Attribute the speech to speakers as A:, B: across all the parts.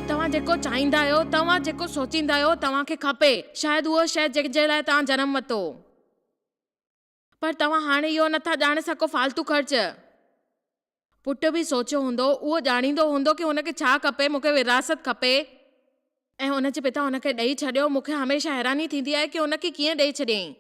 A: توهان جيڪو چاهيندا آهيو، توهان جيڪو سوچيندا آهيو توهان کي کپي، شايد اهو شيء جنهن جي لاء توهان جنم ورتو. پر توهان هاڻي اهو نه ٿا ڄاڻي سگهو فالتو خرچ. پٽ به سوچيو هوندو، اهو ڄاڻيندو هوندو کي هن کي ڇا کپي، مون کي ورهاست کپي. ۽ هن جي پتا هن کي ڏئي ڇڏيو، مون کي هميشه حيراني ٿيندي آهي ڪي هن کي ڪيئن ڏئي ڇڏيائين.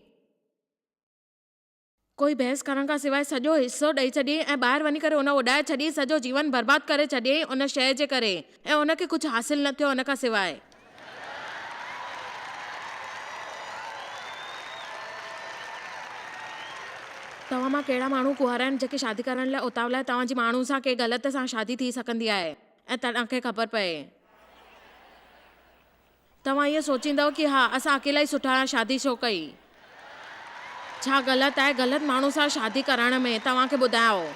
A: ڪوئي بحث ڪرڻ کان سواء سڄو حصو ڏئي ڇڏيئي ۽ ٻاهر وڃي ڪري ان اڏائي ڇڏيئي سڄو جيون برباد ڪري ڇڏيئي ان شيء جي ڪري ۽ ان کي ڪجهه حاصل نه ٿيو ان کان سواء توهان مان ڪهڙا ماڻهو ڪنوار آهن جيڪي شادي ڪرڻ لاء اتاولا آهي توهان جي ماڻهو سان ڪنهن غلط سان شادي ٿي سگهندي آهي ۽ توهان کي خبر پئي. توهان اهو سوچيندؤ ڪي ها اسان اڪيلا ئي سٺا آهيان شادي ڇو ڪئي ڇا غلط آهي غلط ماڻهو سان شادي ڪرائڻ ۾ توهان کي ٻڌايائو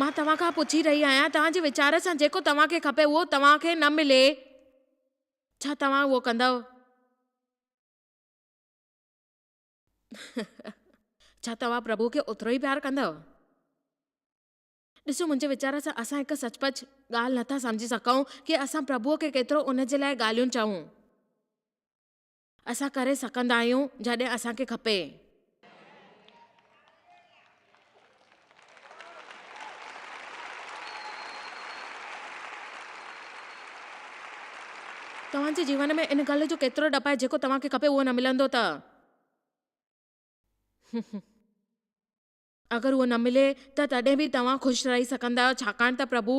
A: مان توهان کان پڇي رهي آهيان توهان جي ويچار سان جيڪو توهان کي کپي اهو توهان کي نه ملي ڇا توهان اهو ڪندؤ ڇا توهان پرڀو کي اوترو ئي پيار ڪندؤ. ڏسو، منهنجي ويچار سان اسان هڪ سچ پچ ڳالهه نه ٿا سمجهي سگهون ڪي اسان پرڀوء کي ڪيترو ان جي لاء ڳالهيون چئون. اسان ڪري سگهندا آهيون جڏهن اسان کي کپي. توهان جي جيون ۾ ان ڳالهه جو ڪيترو ڏپ آهي جيڪو توهان کي کپي اهو نه ملندو ته. اگر اهو نه ملي ته تڏهن به توهان خوش رهي سگهندا آهيو ڇاڪاڻ ته پرڀو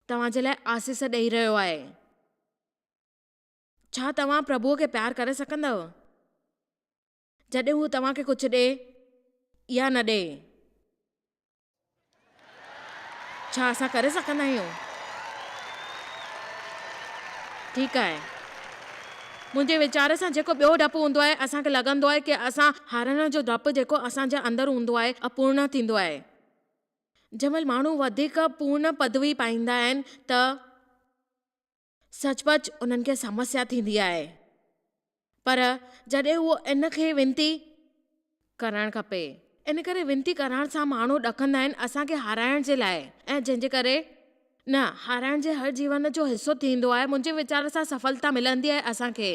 A: توهان جي لاء آسيس ڏئي رهيو آهي. ڇا توهان پرڀوء کي پيار ڪري سگهندؤ جڏهن هو توهان کي ڪجهه ڏئي يا نه ڏئي؟ ڇا اسان ڪري سگهندا آهيون؟ ٺيڪ آهي. منهنجي ويچار سان جيڪو ٻيو ڊپ هوندو آهي، اسان کي لڳندو آهي ڪي اسان هارڻ جو ڊپ جيڪو اسان جي اندر هوندو آهي، اپورڻ ٿيندو آهي. جنهن مهل ماڻهو وڌيڪ پورڻ پدوي پائيندا آهن ته. سچ پچ انهن کي سمسيا ٿيندي آهي پر جڏهن اهو ان کي وينتي ڪرڻ کپي ان ڪري وينتي ڪرڻ سان ماڻهو ڏڪندا آهن اسان کي هارائڻ جي لاء ۽ جنهن جي ڪري نه هارائڻ جي هر جيون جو حصو ٿيندو آهي منهنجي ويچار سان سڦلتا ملندي آهي اسان کي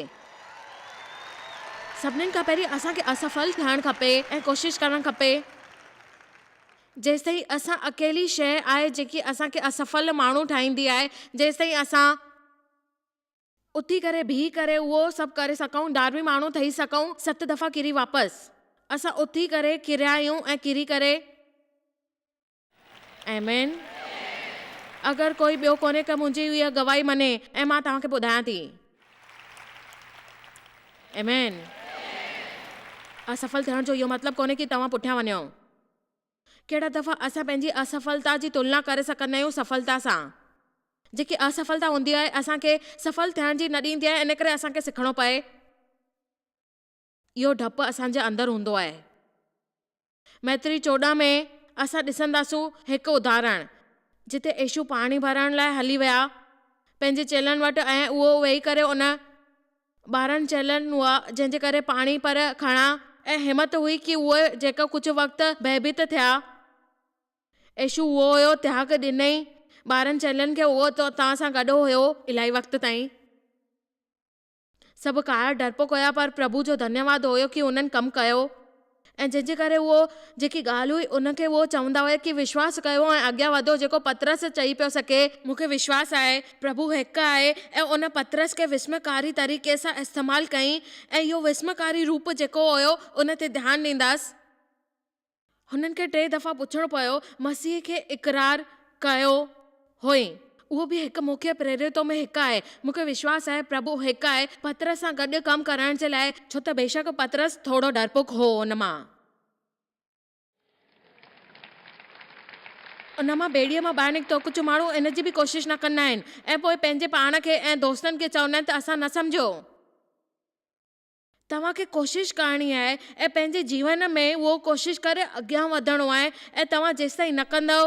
A: سڀني کان پهرين اسان کي اصفل ٿيڻ کپي ۽ ڪوشش ڪرڻ کپي جيستائين اسان اڪيلي شيء آهي جيڪي اسان کي اصفل ماڻهو ٺاهيندي آهي جيستائين اسان اٿي ڪري بيهي ڪري اهو سڀ ڪري سگهون ڌارمي ماڻهو ٺهي سگهون ست دفعا ڪري واپس اسان اٿي ڪري ڪريا آهيون ۽ ڪري ڪري. آمين اگر ڪوئي ٻيو ڪونهي ڪه منهنجي اها گواهي مڃي ۽ مان توهان کي ٻڌايان ٿي آمين اصفل ٿيڻ جو اهو مطلب ڪونهي ڪه توهان پٺيان وڃو. ڪهڙا دفعا اسان پنهنجي اصفلتا جي تلنا ڪري سگهندا آهيون سڦلتا سان، جيڪي اصفلتا هوندي آهي اسان کي سڦل ٿيڻ جي نه ڏيندي آهي ان ڪري اسان کي سکڻو پئي اهو ڊپ اسان جي اندر هوندو آهي. مئتري چوڏهن ۾ اسان ڏسنداسون هڪ اداهرڻ، جتي ايشو پاڻي ڀرڻ لاء هلي ويا پنهنجي چيلن وٽ ۽ اهو ويهي ڪري ان. ٻارن چيلن هئا، جنهن جي ڪري پاڻي پر کڻا ۽ همت هئي ڪي اهي جيڪا ڪجهه وقت ڀئبيت ٿيا. عيشو اهو هيو، تهاڪ ڏنئي ٻارن چيلن کي اهو تو تان سان گڏ هيو الائي وقت تائين. سڀ ڪاهر ڊرپوڪ هيا پر پرڀو جو ڌنيواد هيو ڪي انهن ڪم ڪيو. ۽ جنهن جي ڪري اهو جيڪي ڳالهه هئي ان کي اهو چوندا هيا ڪي وشواس ڪيو ۽ اڳيان وڌو جيڪو پطرس چئي پيو سگهي، مون کي وشواس آهي پرڀو هڪ آهي ۽ ان پطرس کي وسمڪاري طريقي سان استعمال ڪيئي ۽ اهو وسمڪاري روپ جيڪو هيو ان تي ڌيان ڏينداس. هنن کي ٽي دفعا پڇڻو پيو مسيح کي اقرار ڪيو. هئين. اهو به هڪ مکيه پريرتون ۾ هڪ آهي. مون کي وشواس آهي پرڀو هڪ آهي پطرس سان گڏ ڪم ڪرڻ جي لاء، ڇو ته بيشڪ پطرس ٿورو ڊرپوڪ هو ان مان. ان مان ٻيڙيء مان ٻاهر نڪتو. ڪجهه ماڻهو ان جي به ڪوشش نه ڪندا آهن ۽ پوء پنهنجي پاڻ کي ۽ دوستن کي چوندا آهن ته اسان نه سمجهيو. توهان کي ڪوشش ڪرڻي آهي ۽ پنهنجي جيون ۾ اهو ڪوشش ڪري اڳيان وڌڻو آهي ۽ توهان جيستائين نه ڪندؤ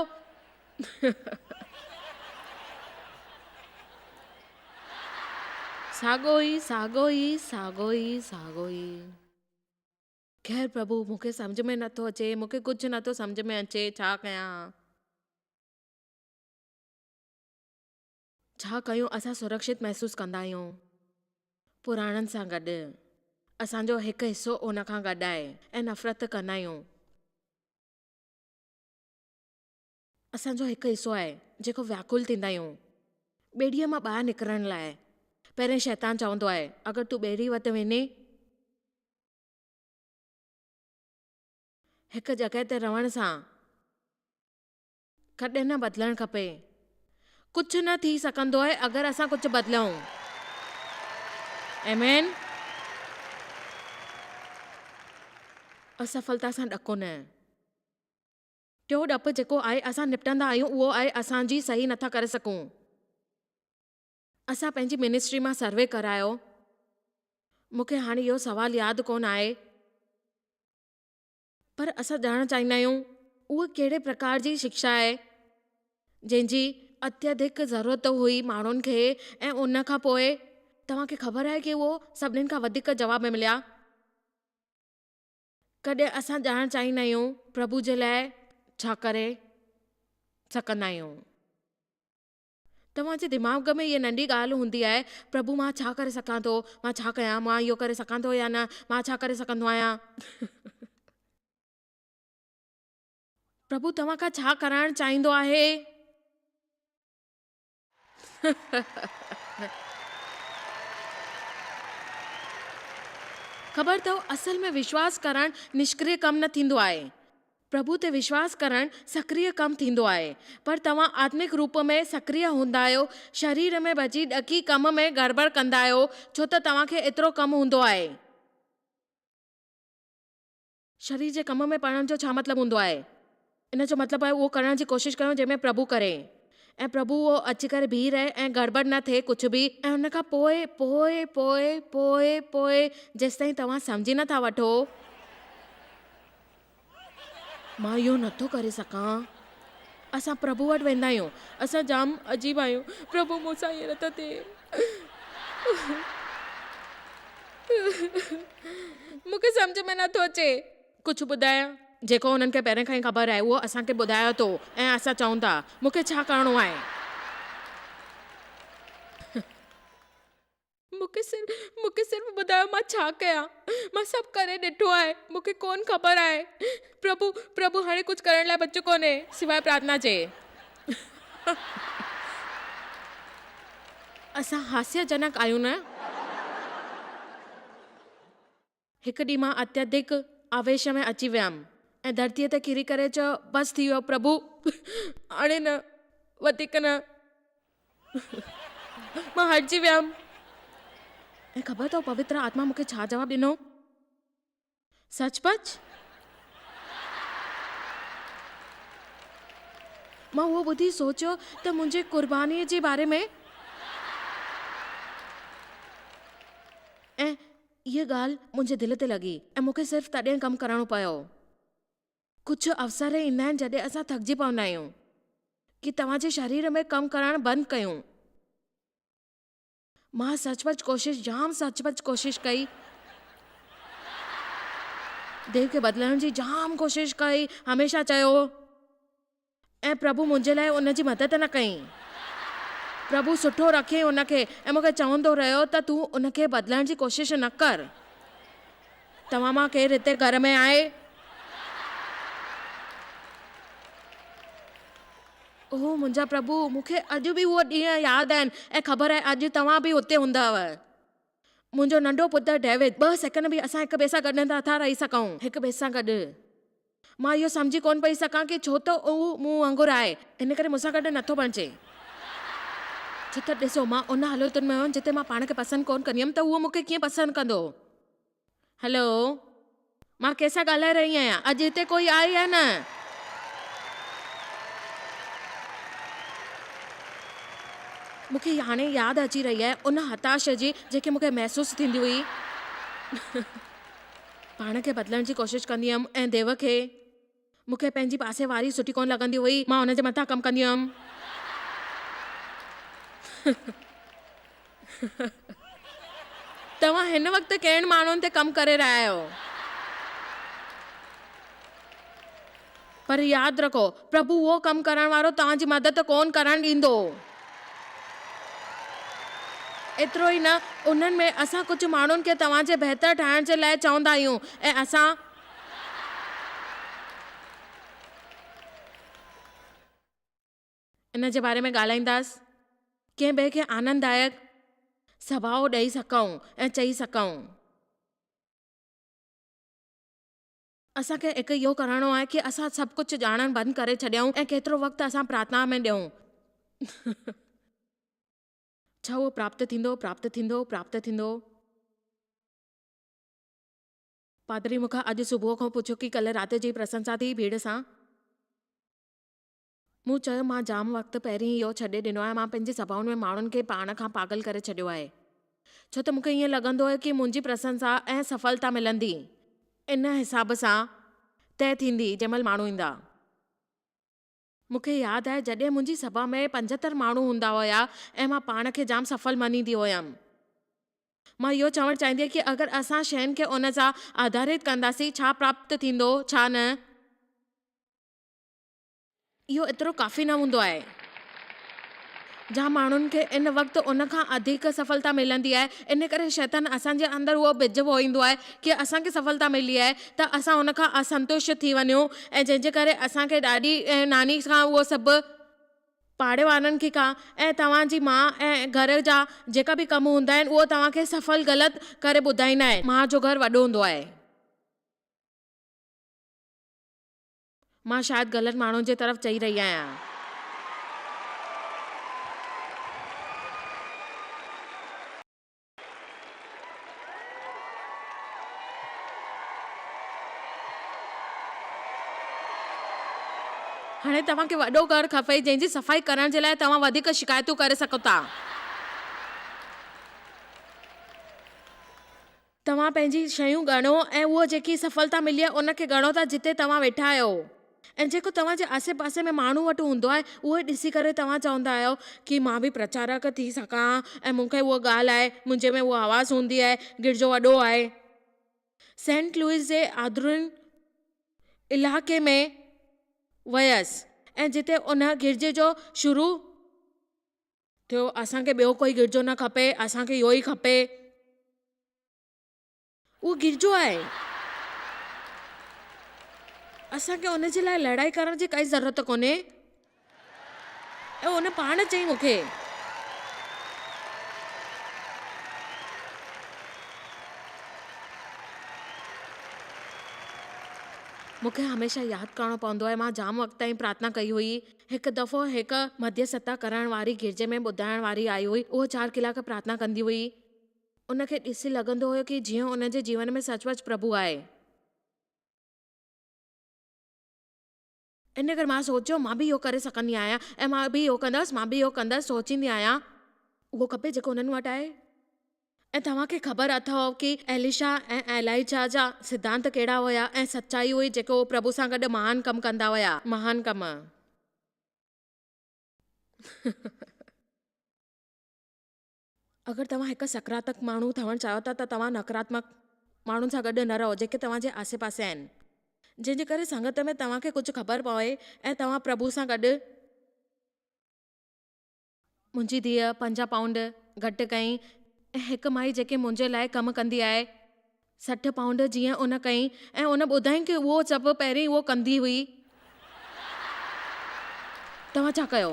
A: ساڳو ئي ساڳو ئي ساڳو ئي ساڳو ئي خير پرڀو مون کي سمجهه ۾ نه ٿو اچي مون کي ڪجهه نه ٿو سمجهه ۾ اچي ڇا ڪيان. ڇا ڪيون اسان سرڪشت محسوس ڪندا آهيون پراڻن سان گڏ اسان جو هڪ حصو ان کان گڏ آهي ۽ نفرت ڪندا آهيون اسان جو هڪ حصو آهي جيڪو وياڪل ٿيندا آهيون ٻيڙيء مان ٻاهر نڪرڻ لاء پهرين شيطان چوندو آهي اگر تون ٻيڙي وٽ وڃي هڪ جڳهه تي رهڻ سان ڪڏهن نه بدلڻ کپي. ڪجهه نه ٿي سگهندو آهي اگر اسان ڪجهه بدليون. آمين. اسفلتا سان ڏڪو نه. ٽيون ڏپ جيڪو آهي اسان نپٽندا آهيون اهو آهي اسان جي صحيح نٿا ڪري سگهون. اسان پنهنجي منسٽري مان سروي ڪرايو. مون کي هاڻي اهو سوال ياد ڪونه آهي. پر اسان ڄاڻڻ چاهيندا آهيون اها ڪهڙي پرڪار جي شڪشا آهي جنهن جي اتيڌڪ ضرورت هئي ماڻهن کي ۽ ان کان پوء توهان کي خبر آهي ڪي اهو سڀني کان وڌيڪ جواب ۾ مليا ڪڏهن اسان ڄاڻڻ چاهيندا آهيون پرڀو جي لاء ڇا ڪري سگهندا آهيون. توهان جي دماغ ۾ هيء ننڍي ڳالهه هوندي آهي، پرڀو مان ڇا ڪري سگهان ٿو؟ مان ڇا ڪيان؟ مان اهو ڪري سگهان ٿو يا نه؟ مان ڇا ڪري سگهندو آهيان؟ پرڀو توهان کان ڇا ڪرائڻ چاهيندو آهي؟ خبر اٿئو اصل ۾ وشواس ڪرڻ نشڪريه ڪم نه ٿيندو آهي. پرڀو تي وشواس ڪرڻ سڪريه ڪم ٿيندو آهي. پر توهان آتمڪ روپ ۾ سڪريه هوندا آهيو، شرير ۾ ڀڄي ڏکي ڪم ۾ گڙٻڙ ڪندا آهيو، ڇو ته توهان کي ايترو ڪم هوندو آهي. شرير جي ڪم ۾ پڙهڻ جو ڇا مطلب هوندو آهي؟ ان جو مطلب آهي اهو ڪرڻ جي ڪوشش ڪريون جنهن ۾ پرڀو ڪري ۽ پرڀو اهو اچي ڪري بيهي رهي ۽ گڙٻڙ نه ٿئي ڪجهه به ۽ ان کان پوء پوء پوء پوء پوء جيستائين توهان سمجهي نه ٿا وٺو. مان اهو نه ٿو ڪري سگهان. اسان پرڀو وٽ ويندا آهيون. اسان جام عجيب آهيون. پرڀو مون سان ائين نه ٿو ٿئي. مون کي سمجهه ۾ نه ٿو اچي. ڪجهه ٻڌايان. جيڪو انهن کي پهرين کان ئي خبر آهي اهو اسان کي ٻڌايو اٿو ۽ اسان چئون ٿا. مون کي ڇا ڪرڻو آهي؟ مون کي صرف مون کي صرف ٻڌايو مان ڇا ڪيان. مان سڀ ڪري ڏٺو آهي. مون کي ڪونه خبر آهي. پرڀو پرڀو هاڻي ڪجهه ڪرڻ لاء بچيو ڪونه. سواء پرارٿنا جي. اسان هاسيا جنڪ آهيون نه. هڪ ڏينهن مان اتيڌڪ آويش ۾ اچي ويم ۽ ڌرتيء تي ڪري ڪري چيو، بس ٿي ويو پرڀو، هاڻي نه، وڌيڪ نه. مان هرجي ويم. ۽ خبر اٿو پوتر آتما مون کي ڇا جواب ڏنو؟ سچ پچ؟ مان اهو ٻڌي سوچيو ته منهنجي قربانيء جي باري ۾. ۽ اها ڳالهه منهنجي دل تي لڳي ۽ مون کي صرف تڏهن ڪم ڪرڻو پيو. ڪجهه اوسر ايندا آهن جڏهن اسان ٿڪجي پوندا آهيون ڪي توهان جي شرير ۾ ڪم ڪرڻ بند ڪيون. مان سچ پچ ڪوشش جام سچ پچ ڪوشش ڪئي. ديو کي بدلڻ جي جام ڪوشش ڪئي هميشه چيو. ۽ پرڀو منهنجي لاء ان جي مدد نه ڪيائين. پرڀو سٺو رکيائين ان کي ۽ مون کي چوندو رهيو ته تون ان کي بدلائڻ جي ڪوشش نه ڪر. توهان مان ڪير هتي گهر ۾ آهي؟ اوه منهنجا پرڀو، مون کي اڄ به اهي ڏينهن ياد آهن ۽ خبر آهي اڄ توهان به اتي هوندؤ. منهنجو ننڍو پٽ ڊيوڊ، ٻه سيڪنڊ به اسان هڪ ٻئي سان گڏ نٿا رهي سگهون. هڪ ٻئي سان گڏ. مان اهو سمجهي ڪونه پئي سگهان ڪي ڇو ته هو مون وانگر آهي ان ڪري مون سان گڏ نه ٿو بڻجي. ڇو ته ڏسو مان ان هالتن ۾ هئم جتي مان پاڻ کي پسند ڪونه ڪندي هئم ته هو مون کي ڪيئن پسند ڪندو هو. هلو مان ڪنهن سان ڳالهائي رهي آهيان اڄ هتي ڪوئي آهي يا نه. مون کي هاڻي ياد اچي رهي آهي ان هتاشه جي جيڪي مون کي محسوس ٿيندي هئي. پاڻ کي بدلڻ جي ڪوشش ڪندي هيم ۽ ديو کي مون کي پنهنجي پاسي واري سٺي ڪونه لڳندي هئي، مان هن جي مٿان ڪم ڪندي هيم. توهان هن وقت ڪهڙن ماڻهن تي ڪم ڪري رهيا آهيو؟ پر ياد رکو، پرڀو اهو ڪم ڪرڻ وارو توهان جي مدد ڪونه ڪرڻ ڏيندو. ايترو ئي نه، انهن ۾ اسان ڪجهه ماڻهن کي توهان جي بهتر ٺاهڻ جي لاء چوندا آهيون ۽ اسان. ان جي باري ۾ ڳالهائينداس، ڪنهن ٻئي کي آننددائڪ سڀاء ڏئي سگهون ۽ چئي سگهون. اسان کي هڪ اهو ڪرڻو آهي ڪي اسان سڀ ڪجهه ڄاڻڻ بند ڪري ڇڏيائون ۽ ڪيترو وقت اسان پراتناء ۾ ڏيون. ڇا اهو پراپت ٿيندو، پراپت ٿيندو، پراپت ٿيندو؟ پادري مون کان اڄ صبح کان پڇيو ڪي ڪلهه رات جي پرسنسا ٿي ڀيڙ سان؟ مون چيو، مان جام وقت پهرين ئي اهو ڇڏي ڏنو آهي. مان پنهنجي سڀائن ۾ ماڻهن کي پاڻ کان پاڳل ڪري ڇڏيو آهي. ڇو ته مون کي ائين لڳندو هو ڪي منهنجي پرسنسا ۽ سڦلتا ملندي ان حساب سان طئه ٿيندي جنهن مهل ماڻهو ايندا. مون کي ياد آهي جڏهن منهنجي سڀا ۾ پنجهتر ماڻهو هوندا هيا ۽ مان پاڻ کي جام سڦل مڃيندي هيم. مان اهو چوڻ چاهيندي هيم ڪي اگر اسان شين کي ان سان آڌاريت ڪنداسين ڇا پراپت ٿيندو ڇا نه. اهو ايترو ڪافي نه هوندو آهي. جا ماڻهن کي ان وقت ان کان اڌيڪ سڦلتا ملندي آهي. ان ڪري شيطان اسان جي اندر اهو ٻج بوئيندو آهي ڪي اسان کي سڦلتا ملي آهي ته اسان ان کان اسنتوش ٿي وڃون ۽ جنهن جي ڪري اسان کي ڏاڏي ۽ ناني کان اهو سڀ، پاڙي وارن کي کان ۽ توهان جي ماء ۽ گهر جا جيڪا به ڪم هوندا آهن اهو توهان کي سڦل غلط ڪري ٻڌائيندا آهن. ماء جو گهر وڏو هوندو آهي. مان شايد غلط ماڻهو جي طرف چئي رهي آهيان. هاڻي توهان کي وڏو گهر کپي جنهن جي صفائي ڪرڻ جي لاء توهان وڌيڪ شڪايتون ڪري سگهو ٿا. توهان پنهنجي شيون ڳڻو ۽ اها جيڪي سڦلتا ملي آهي ان کي ڳڻو ٿا جتي توهان ويٺا آهيو ۽ جيڪو توهان جي آسي پاسي ۾ ماڻهو وٽ هوندو آهي اهو ئي ڏسي ڪري توهان چوندا آهيو ڪي مان به پرچارڪ ٿي سگهان ها ۽ مون کي اها ڳالهه آهي منهنجي ۾ اها آواز هوندي آهي گرجو وڏو آهي سينٽ لوئيس جي آدرون علائقي ۾ ويس ۽ جتي ان گرجي جو شروع ٿيو اسان کي ٻيو ڪوئي گرجو نه کپي اسان کي اهو ئي کپي. اهو گرجو آهي. اسان کي ان جي لاء لڙائي ڪرڻ جي ڪائي ضرورت ڪونهي. اهو ان پاڻ چئي مون کي. مون کي هميشه ياد ڪرڻو پوندو آهي مان جام وقت تائين پرارٿنا ڪئي هئي. هڪ دفعو هڪ مڌيسٿتا ڪرڻ واري گرجي ۾ ٻڌائڻ واري آئي هئي. هوء چار ڪلاڪ پرارٿنا ڪندي هئي. ان کي ڏسي لڳندو هيو ڪي جيئن ان جي جيون ۾ سچ پچ پرڀو آهي. ان ڪري مان سوچيو مان به اهو ڪري سگهندي آهيان ۽ مان به اهو ڪندس، مان به اهو ڪندس، سوچيندي آهيان. اهو کپي جيڪو انهن وٽ آهي. ۽ توهان کي خبر اٿئو ڪي ايليشا ۽ ايلائيجا جا سڌانت ڪهڙا هيا ۽ سچائي هئي جيڪي هو پرڀو سان گڏ مهان ڪم ڪندا هيا مهان ڪم. اگر توهان هڪ سڪراتمڪ ماڻهو ٿيڻ چاهيو ٿا ته توهان نڪراتمڪ ماڻهن سان گڏ نه رهو جيڪي توهان جي آسي پاسي آهن جنهن جي ڪري سنگت ۾ توهان کي ڪجهه خبر پوي ۽ توهان پرڀو سان گڏ منهنجي ڌيء پنجاهه پائونڊ گهٽ ڪيائين ۽ هڪ مائي جيڪي منهنجي لاء ڪم ڪندي آهي، سٺ پائونڊ جيئن ان ڪيائين ۽ ان ٻڌائين ڪي اهو سڀ پهرين اهو ڪندي هئي. توهان ڇا ڪيو؟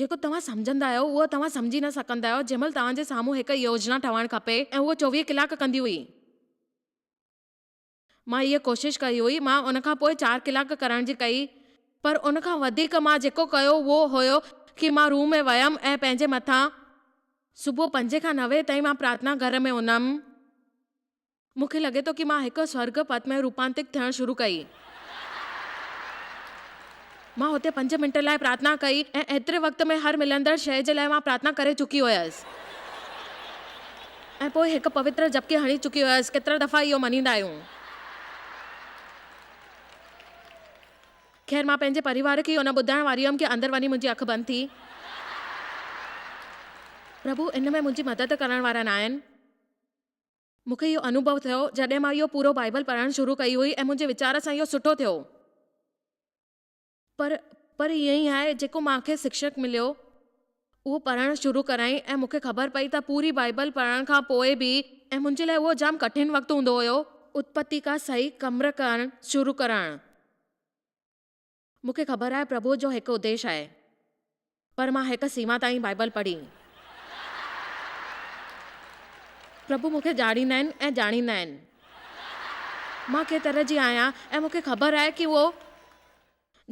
A: جيڪو توهان سمجهندا آهيو اهو توهان سمجهي نه سگهندا آهيو جنهن مهل توهان جي سامهون هڪ يوجنا ٺهڻ کپي ۽ اهو چوويهه ڪلاڪ ڪندي هئي. مان هيء ڪوشش ڪئي هئي. مان ان کان پوء چار ڪلاڪ ڪرڻ جي ڪئي. پر ان کان وڌيڪ مان جيڪو ڪيو اهو هيو ڪي مان روم ۾ ويم ۽ پنهنجي مٿان. صبح پنجين کان نوين تائين مان پرارٿنا گهر ۾ هئم. مون کي لڳي ٿو ڪي مان هڪ سورڳ پت ۾ روپانتڪ ٿيڻ شروع ڪئي. مان هتي پنج منٽ لاء پرارٿنا ڪئي ۽ ايتري وقت ۾ هر ملندڙ شيء جي لاء مان پرارٿنا ڪري چڪي هيس ۽ پوء هڪ پوتر جپڪي هڻي چڪي هيس. ڪيترا دفعا اهو مڃيندا آهيون. خير مان پنهنجي پريوار کي اهو نه ٻڌائڻ واري هيم ڪي اندر وڃي منهنجي اک بند ٿي. پرڀو ان ۾ منهنجي مدد ڪرڻ وارا ناهن. مون کي اهو انوڀو ٿيو جڏهن مان اهو پورو بائيبل پڙهڻ شروع ڪئي هئي ۽ منهنجي ويچار سان اهو سٺو ٿيو. پر پر ائين ئي آهي جيڪو مان کي سکشڪ مليو اهو پڙهڻ شروع ڪرايائين ۽ مون کي خبر پئي ته پوري بائيبل پڙهڻ کان پوء به ۽ منهنجي لاء اهو جام ڪٺن وقت هوندو هيو. اتپتي کان صحيح ڪمر ڪرڻ شروع ڪرڻ. مون کي خبر آهي پرڀوء جو هڪ اديش آهي، پر مان هڪ سيما تائين بائيبل پڙهي. پرڀو مون کي ڄاڻيندا آهن ۽ ڄاڻيندا آهن مان ڪنهن طرح جي آهيان ۽ مون کي خبر آهي ڪي اهو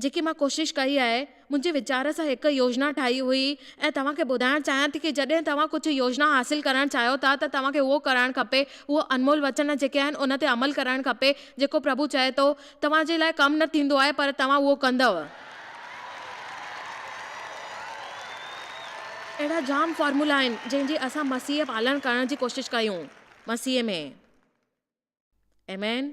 A: جيڪي مان ڪوشش ڪئي آهي منهنجي ويچار سان هڪ يوجنا ٺاهي هئي ۽ توهان کي ٻڌائڻ چاهيان ٿي ڪي جڏهن توهان ڪجهه يوجنا حاصل ڪرڻ چاهيو ٿا ته توهان کي اهو ڪرڻ کپي اهو انمول وچن جيڪي آهن ان تي عمل ڪرڻ کپي جيڪو پرڀو چئي ٿو توهان جي لاء ڪم نه ٿيندو آهي پر توهان اهو ڪندؤ. اهڙا جام فارمولا آهن جنهن جي اسان مسيح پالڻ ڪرڻ جي ڪوشش ڪيون مسيح ۾. آمين.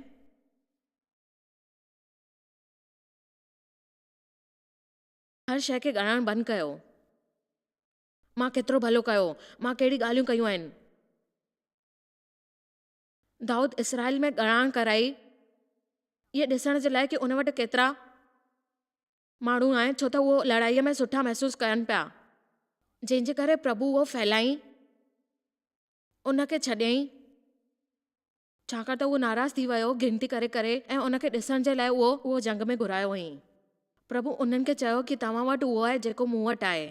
A: هر شيء کي ڳڻڻ بند ڪيو. مان ڪيترو ڀلو ڪيو. مان ڪهڙي ڳالهيون ڪيون آهن. دائود اسرائيل ۾ ڳڙان ڪرائي اهي ڏسڻ جي لاء ڪي ان وٽ ڪيترا ماڻهو آهن ڇو ته اهو لڙائيء ۾ سٺا محسوس ڪن پيا جنهن جي ڪري پرڀو اهو ڦهلائين ان کي ڇڏيائين ڇاڪاڻ ته اهو ناراض ٿي ويو گنتي ڪري ڪري ۽ ان کي ڏسڻ جي لاء اهو اهو جنگ ۾ گهرايو هئائين پرڀو انهن کي چيو ڪي توهان وٽ اهو آهي جيڪو مون وٽ آهي.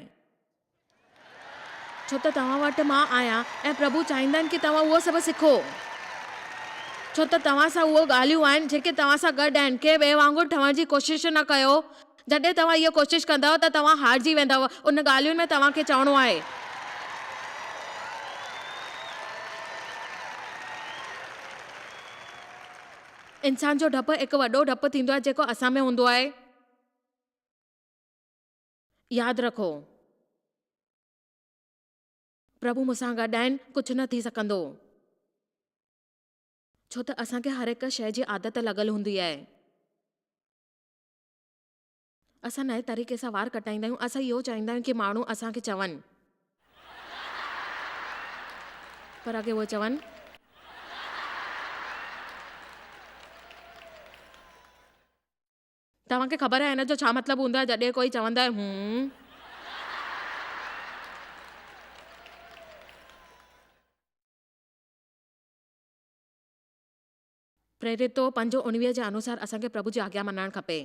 A: ڇو ته توهان وٽ مان آهيان ۽ پرڀو چاهيندا آهن ڪي توهان اهو سڀ سکو. ڇو ته توهان سان اهو ڳالهيون آهن جيڪي توهان سان گڏ آهن. ڪنهن ٻئي وانگر ٺهڻ جي ڪوشش نه ڪيو. جڏهن توهان اهو ڪوشش ڪندؤ ته توهان هارجي ويندؤ. ان ڳالهين ۾ توهان کي چوڻو آهي. انسان جو ڊپ هڪ وڏو ڊپ ٿيندو آهي جيڪو اسان ۾ هوندو آهي. ياد رکو. پرڀو مون سان گڏ آهن، ڪجهه نه ٿي سگهندو. ڇو ته اسان کي هر هڪ شيء جي عادت لڳل هوندي آهي. اسان نئين طريقي سان وار ڪٽائيندا آهيون، اسان اهو چاهيندا آهيون ڪي ماڻهو اسان کي چون. پر اگي اهي چون. توهان کي خبر آهي ان جو ڇا مطلب هوندو آهي جڏهن ڪوئي چوندو آهي هون. پريرتو پنج اڻويهه جي انوسار اسان کي پرڀو جي آگيا مڃڻ کپي.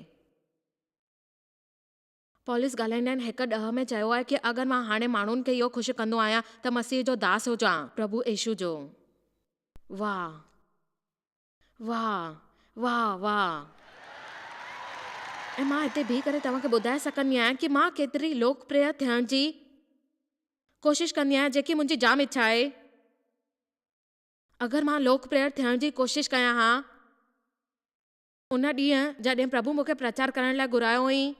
A: پولس ڳالهائيندڙن هڪ ڏهه ۾ چيو آهي ڪي اگر مان هاڻي ماڻهن کي اهو خوش ڪندو آهيان ته مسيح جو داس هجان. پرڀو ايشو جو. واه! واھ واھ واھ ۽ مان هتي بيهي ڪري توهان کي ٻڌائي سگهندي آهيان ڪي مان ڪيتري لوڪپريه ٿيڻ جي ڪوشش ڪندي آهيان جيڪي منهنجي جام اڇا آهي اگر مان لوڪپريه ٿيڻ جي ڪوشش ڪيان ها ان ڏينهن جڏهن پرڀو مونکي پرچار ڪرڻ لاء گهرايو هئين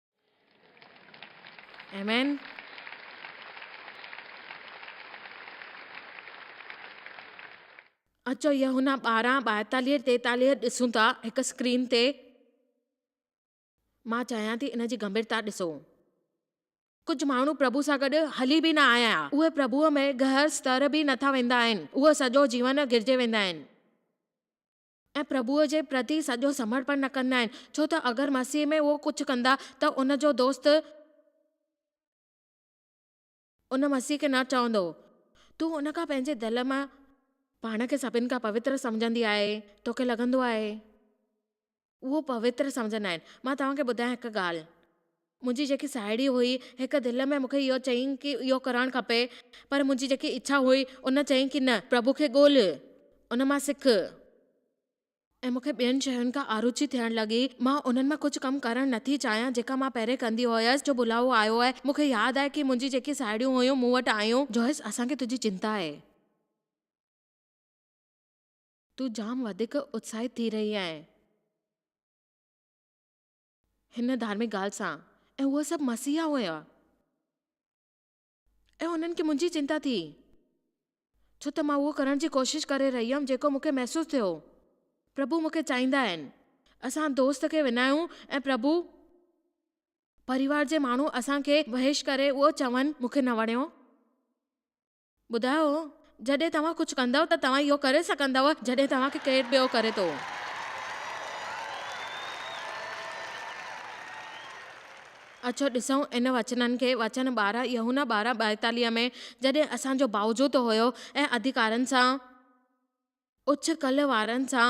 A: آمين. اچو يوحنا ٻارهن ٻائيتاليهه ٽيتاليهه ڏسون ٿا هڪ اسڪرين تي مان چاهيان ٿي ان جي گنڀيرتا ڏسو ڪجهه ماڻهو پرڀو سان گڏ هلي به نه آيا آهيا اهي پرڀو ۾ گهر ستر به نٿا ويندا آهن اهي سڄو جيون گرجي ويندا آهن ۽ پرڀوء جي پرتي سڄو سمڙپڻ نه ڪندا آهن، ڇو ته اگر مسيح ۾ اهو ڪجهه ڪندا ته ان جو دوست ان مسيح کي نه چوندو هو. تون ان کان پنهنجي دل مان پاڻ کي سڀن کان پوتر سمجهندي آهي، توکي لڳندو آهي. اهو پوتر سمجهندا آهن. مان توهان کي ٻڌايان هڪ ڳالهه. منهنجي جيڪي ساهيڙي هئي، هڪ دل ۾ مونکي اهو چيائين ڪي اهو ڪرڻ کپي، پر منهنجي جيڪي اڇا هئي، ان چيائين ڪي نه، پرڀو کي ڳولهه، ان مان سک. ۽ مونکي ٻين شين کان آروچي ٿيڻ لڳي، مان انهن مان ڪجهه ڪم ڪرڻ نه ٿي چاهيان جيڪا مان پهرين ڪندي هيس، جو بلاوو آيو آهي، مونکي ياد آهي ڪي منهنجي جيڪي ساهيڙيون هيون مون وٽ آيون، جويس اسان کي تنهنجي چنتا آهي، تون جام وڌيڪ اتساهيت ٿي رهي آهين. هن ڌارمڪ ڳالهه سان ۽ هو سڀ مسيحا هيا ۽ انهن کي منهنجي چنتا ٿي ڇو ته مان اهو ڪرڻ جي ڪوشش ڪري رهي هيم جيڪو مون کي محسوس ٿيو پرڀو مون کي چاهيندا آهن اسان دوست کي وڃايون ۽ پرڀو پريوار جي ماڻهو اسان کي وحش ڪري اهو چون مون کي نه وڻيو ٻڌايو، جڏهن توهان ڪجهه ڪندؤ ته توهان اهو ڪري سگهندؤ جڏهن توهان کي ڪير ٻيو ڪري ٿو. اچو ڏسون ان وچنن کي، وچن ٻارهن، يحنا ٻارهن ٻائيتاليهه ۾ جڏهن اسان جو باوجود هيو ۽ اڌڪارن سان، اڇ ڪلهه وارن سان،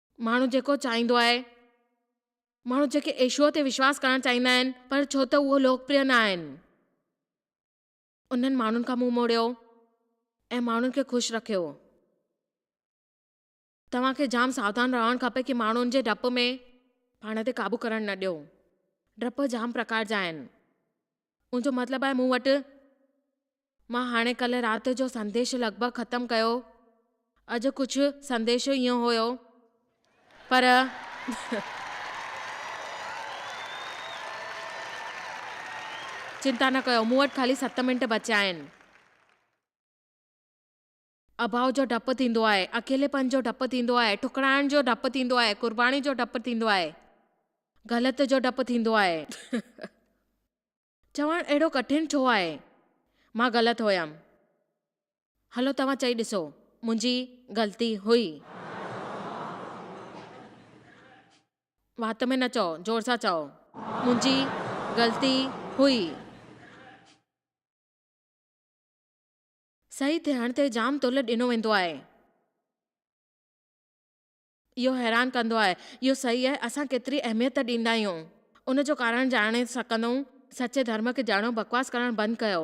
A: ماڻهو جيڪو چاهيندو آهي. ماڻهو جيڪي ايشوء تي وشواس ڪرڻ چاهيندا آهن پر ڇو ته اهو لوڪپريه نه آهن انهن ماڻهن کان منهن موڙيو ۽ ماڻهن کي خوش رکيو. توهان کي جام ساودان رهڻ کپي ڪي ماڻهن جي ڊپ ۾ پاڻ تي قابو ڪرڻ نه ڏيو. ڊپ جام پرڪار جا آهن. ان جو مطلب آهي مون وٽ مان هاڻي ڪلهه رات جو سنديش لڳ ڀڳ ختم ڪيو اڄ ڪجهه سنديش ايئن هيو پر چنتا نه ڪيو مون وٽ خالي ست منٽ بچيا آهن اڀاء جو ڊپ ٿيندو آهي، اڪيليپن جو ڊپ ٿيندو آهي، ٺڪراڻ جو ڊپ ٿيندو آهي، قرباني جو ڊپ ٿيندو آهي، گهلت جو ڊپ ٿيندو آهي. چوڻ اهڙو ڪٺن ڇو آهي؟ مان غلط هيم. هلو توهان چئي ڏسو، منهنجي غلطي هئي. وات ۾ نه چئو، زور سان چئو، منهنجي غلطي هئي. صحيح ٿيڻ تي جام تولد ڏنو ويندو آهي. اهو حيران ڪندو آهي. اهو صحيح آهي، اسان ڪيتري اهميت ڏيندا آهيون. ان جو ڪارڻ ڄاڻي سگهندؤن. سچي ڌرم کي ڄاڻو، بڪواس ڪرڻ بند ڪيو.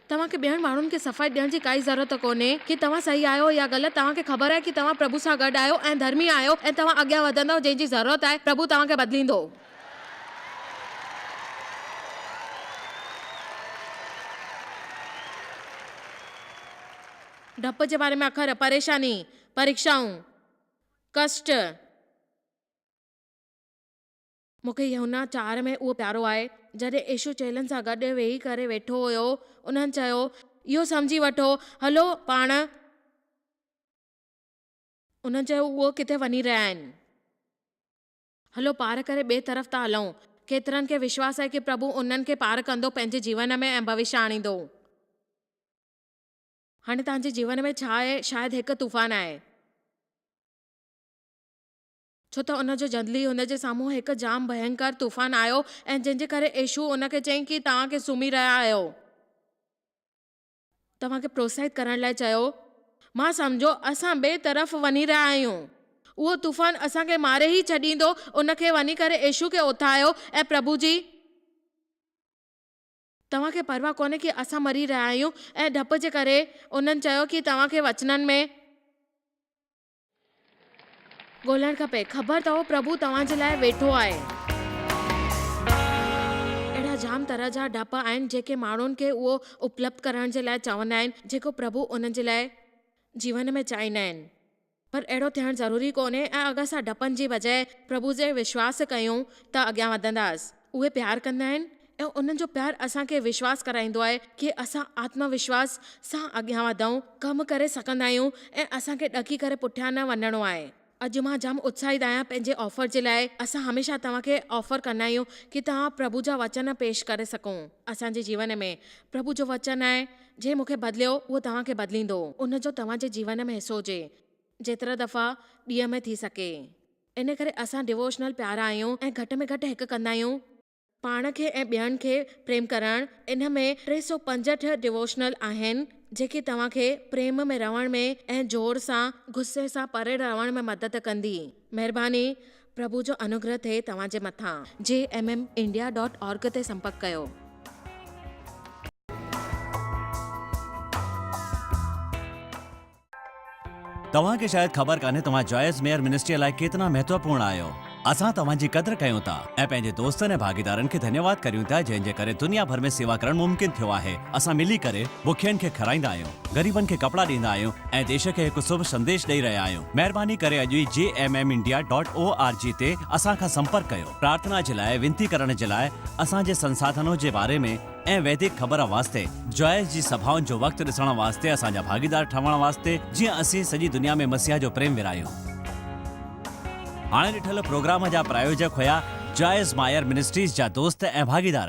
A: توهان کي ٻين ماڻهن کي صفائي ڏيڻ جي ڪائي ضرورت ڪونهي ڪي توهان صحيح آهيو يا غلط، توهان کي خبر آهي ڪي توهان پرڀو سان گڏ آهيو ۽ ڌرمي آهيو ۽ توهان اڳيان وڌندؤ جنهن جي ضرورت آهي پرڀو توهان کي بدليندو. ڊپ جي باري ۾ اکر، پريشاني، پريڪشائون، ڪشٽ. مون کي يوحنا چار ۾ اهو پيارو آهي. جڏهن يسوع چيلن سان گڏ ويهي ڪري ويٺو هيو، انهن چيو، اهو سمجهي وٺو، هلو پاڻ. انهن چيو، اهي ڪٿي وڃي رهيا آهن؟ هلو پار ڪري ٻئي طرف ٿا هلون. ڪيترن کي وشواس آهي ڪي پرڀو انهن کي پار ڪندو پنهنجي جيون ۾ ۽ ڀوشيه آڻيندو. هاڻي توهان جي جيون ۾ ڇا آهي؟ شايد هڪ طوفان آهي. ڇو ته ان جو جلدي هن جي سامهون هڪ جام ڀينڪر طوفان آيو ۽ جنهن جي ڪري عيشوع ان کي چيائين ڪي توهان ڪي سمهي رهيا آهيو؟ توهان کي پروتساهت ڪرڻ لاء چيو. مان سمجهيو اسان ٻئي طرف وڃي رهيا آهيون. اهو طوفان اسان کي ماري ئي ڇڏيندو. ان کي وڃي ڪري يسوع کي اٿايو ۽ پرڀو جي. توهان کي پرواهه ڪونهي ڪي اسان مري رهيا آهيون ۽ ڊپ جي ڪري. انهن چيو ڪي توهان کي وچنن ۾. ڳولڻ کپي. خبر اٿئو پرڀو توهان جي لاء ويٺو آهي. اهڙا جام طرح جا ڊپ آهن جيڪي ماڻهن کي اهو اپلبڌ ڪرڻ جي لاء چوندا آهن جيڪو پرڀو انهن جي لاء جيون ۾ چاهيندا آهن پر اهڙو ٿيڻ ضروري ڪونهي ۽ اگر اسان ڊپن جي بجاء پرڀو جي وشواس ڪيون ته اڳيان وڌنداس. اهي پيار ڪندا آهن ۽ انهن جو پيار اسان کي وشواس ڪرائيندو آهي ڪي اسان آتم وشواس سان اڳيان وڌئون، ڪم ڪري سگهندا آهيون ۽ اسان کي ڏڪي ڪري پٺيان نه وڃڻو آهي. اڄ مان جام اتساهيت آهيان پنهنجي آفر جي لاء، اسان هميشه توهان کي آفر ڪندا آهيون ڪي توهان پرڀو جا وچن پيش ڪري سگهون. اسان جي جيون ۾ پرڀو جو وچن آهي جنهن مون کي بدليو اهو توهان کي بدليندو. ان جو توهان جي جيون ۾ حصو هجي جيترا دفعا ڏينهن ۾ ٿي سگهي. ان ڪري اسان ڊووشنل پيارا آهيون ۽ گهٽ ۾ گهٽ هڪ ڪندا آهيون. پاڻ کي ۽ ٻين کي پريم ڪرڻ، ان ۾ ٽي سؤ پنجهٺ ڊووشنل آهن، جيڪي توهان کي پريم ۾ رهڻ ۾ ۽ زور سان، غصي سان پري رهڻ ۾ مدد ڪندي. مهرباني، پرڀو جو انوگره ٿئي توهان جي مٿان. GMM India dot org تي سنپرڪ ڪيو.
B: توهان کي شايد خبر ڪانهي توهان جائز ميئر منسٽريء لاء ڪيترا مهتوپورڻ آهيو. اسان توهان جي قدر ڪيون ٿا ۽ پنهنجي دوستن ۽ ڀاڳيدارن کي ڌنيواد ڪريون ٿا جنهن جي ڪري دنيا ڀر ۾ سيوا ڪرڻ ممڪن ٿيو آهي. اسان ملي ڪري بکين کي کارائيندا آهيون، غريبن کي ڪپڙا ڏيندا آهيون ۽ ديش کي هڪ سڀ سنديش ڏئي رهيا آهيون. مهرباني ڪري اڄ ئي GMM India dot O R G تي اسان کان سمپرڪ ڪيو. پرارٿنا جي لاء، وينتي ڪرڻ جي لاء، اسان جي سنساڌنون جي باري ۾، ۽ ويدڪ خبر واسطي، جوائس جي سڀائن جو وقت ڏسڻ واسطي اسان جا ڀاڳيدار ٺهڻ واسطي جيئن اسين سڄي دنيا ۾ مسيح جو پريم ورهايون. هاڻي ڏٺل پروگرام جا پرايوجڪ هيا جوائس مائر منسٽريز جا دوست ۽ ڀاڳيدار.